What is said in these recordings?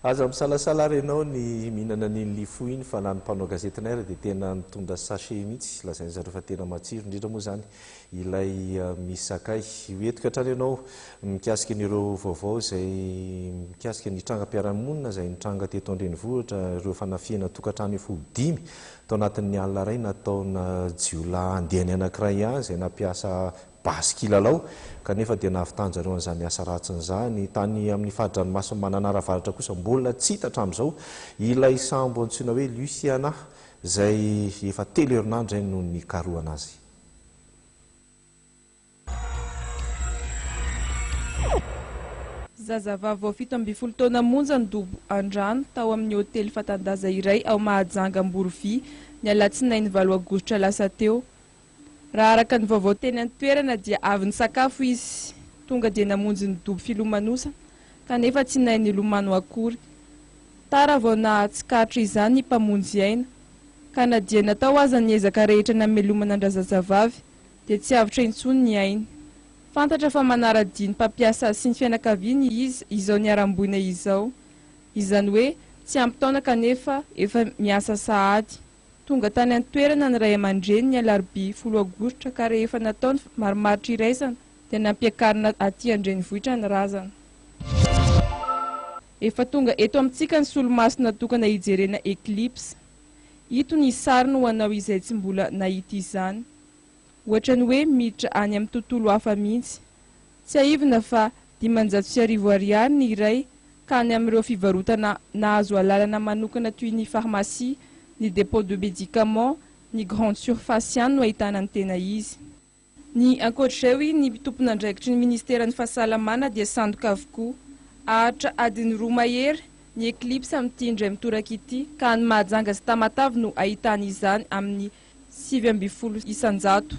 Aza misalasala ary ianao ny mihinana an'iny lifo iny fa na ny mpanao gazetinay ary dia tena nitondra sachet mihitsy, lazainy zareo fa tena matsiro indrindra moa izany ilay misy sakay. Hoentiko hatrany ianao mikasika an'ireo vaovao izay mikasika ny trangam-piarahamonina izay nitranga teto an-drenivohitra, ireo fanafihana tokantrano efa ho dimy tao anatin'ny alina iray nataona jiolahy andiany anankiray ihany izay nampiasa basy kilalao, kanefa dia nahavitanjareo an'izany asa ratsiny izany. Tany amin'ny fari-dranomasin'i Mananara Avaratra kosa mbola tsy hita hatramin'izao ilay sambo antsoina hoe Luciana, izay efa telo herinandro izay no nikarohana azy. Zazavavy vao fito ambin'ny folo taona monja ny dobo an-drano tao amin'ny hotely fatan-daza iray ao Mahajanga Amborovia, ny alatsinainy valo aogositra lasa teo. Raha araka ny vaovao teny an-toerana dia avy nisakafo izy, tonga dia namonjy ny dobo filomanosana kanefa tsy nahay nilomano akory. Tara vao nahatsikaritra izany ny mpamonjy aina, ka na dia natao aza ny ezaka rehetra namelomana an-drazazavavy dia tsy avotra intsony ny ainy. Fantatra fa manara-dia ny mpampiasa sy ny fianakaviany izy izao niharam-boina izao, izany hoe tsy ampy taona kanefa efa miasa sahady. Tonga tany an-toerana ny ray aman-dreny ny alarobia folo aogositra ka rehefa natao ny marimaritra iraisana dia nampiakarina aty an-drenivohitra ny razana. Efa tonga eto amintsika ny solomaso natokana hijerena eclipse. Ito ny sariny ho anao izay tsy mbola nahita izany. Ohatran'ny hoe miditra any amin'ny tontolo hafa mihitsy. Tsiahivina fa dimanjato sy arivo Ariary ny iray ka any amin'ireo fivarotana nahazo alalana manokana toy ny pharmacie, ny dépôt de médicaments, ny grande surface ihany no ahitana ny tena izy. Ny ankoatr'izay hoy ny tompon'andraikitry ny ministeran'ny fahasalamana dia sandoka avokoa. Haharitra adiny roa mahery ny eclipse amin'ity indray mitoraka ity ka any Mahajanga sy Tamatave no ahitana izany amin'ny sivy ambin'ny folo isan-jato.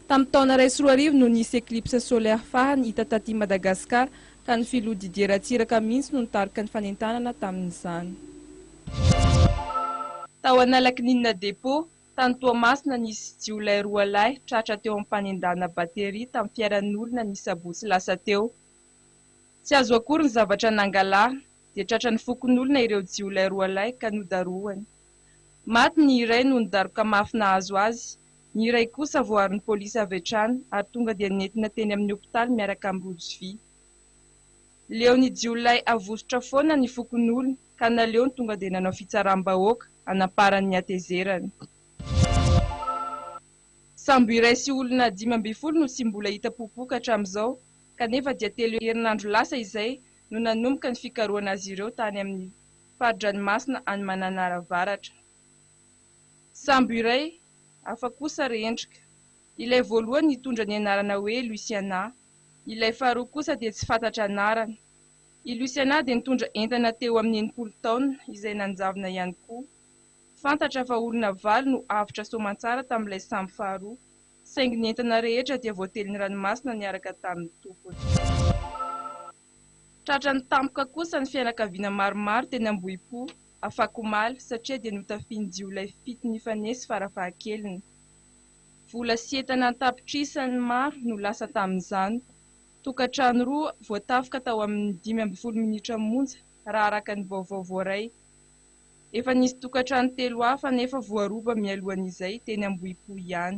Tamin'ny taona iray sy roa arivo no nisy eclipse solaire farany hita taty Madagascar ka ny filoha Didier Ratsiraka mihitsy no nitarika ny fanentanana tamin'izany. Tao Analakininina Dépôt, tany Toamasina, nisy jiolahy roa lahy tratra teo amin'ny fanendahana batterie tamin'ny fiaran'olona ny sabotsy lasa teo. Tsy azo akory ny zavatra nangalana. dia tratran'ny fokonolona ireo jiolahy roa lahy ka nodarohany. Maty ny iray noho ny daroka mafy nahazo azy, ny iray kosa voaaron'ny polisy avy hatrany ary tonga dia nentina teny amin'ny hopitaly miaraka am-bojo vy. Leon'ny jiolahy avosotra foana ny fokonolona ka naleony tonga dia nanao fitsaram-bahoaka hanamparan'ny hatezerany. Sambo iray sy olona dimy ambin'ny folo no tsy mbola hita popoka hatramin'izao kanefa dia telo herinandro lasa izay no nanomboka ny fikarohana azy ireo tany amin'ny fari-dranomasina any Mananara Avaratra. Sambo iray hafa kosa re-endrika. Ilay voalohany nitondra ny anarana hoe Luciana, ilay faharoa kosa dia tsy fantatra anarana. I Luciana dia nitondra entana teo amin'ny enimpolo taonina izay nanjavona ihany koa. Fantatra fa olona valo no avotra soamantsara tamin'ilay sambo faharoa. Saingy ny entana rehetra dia voatelin'ny ranomasina niaraka tamin'ny tompony. Tratran'ny tampoka kosa ny fianakaviana maromaro teny Ambohipo, afakomaly, satria dia notafihin'ny jiolahy fito nifanesy farafahakeliny. Vola sy entana an-tapitrisany maro no lasa tamin'izany. Tokantrano roa voatafoka tao amin'ny dimy ambin'ny folo minitra monja, raha araka ny vaovao voaray. Efa nisy tokantrano telo hafa anefa voaroba mialohan'izay teny Ambohipo ihany.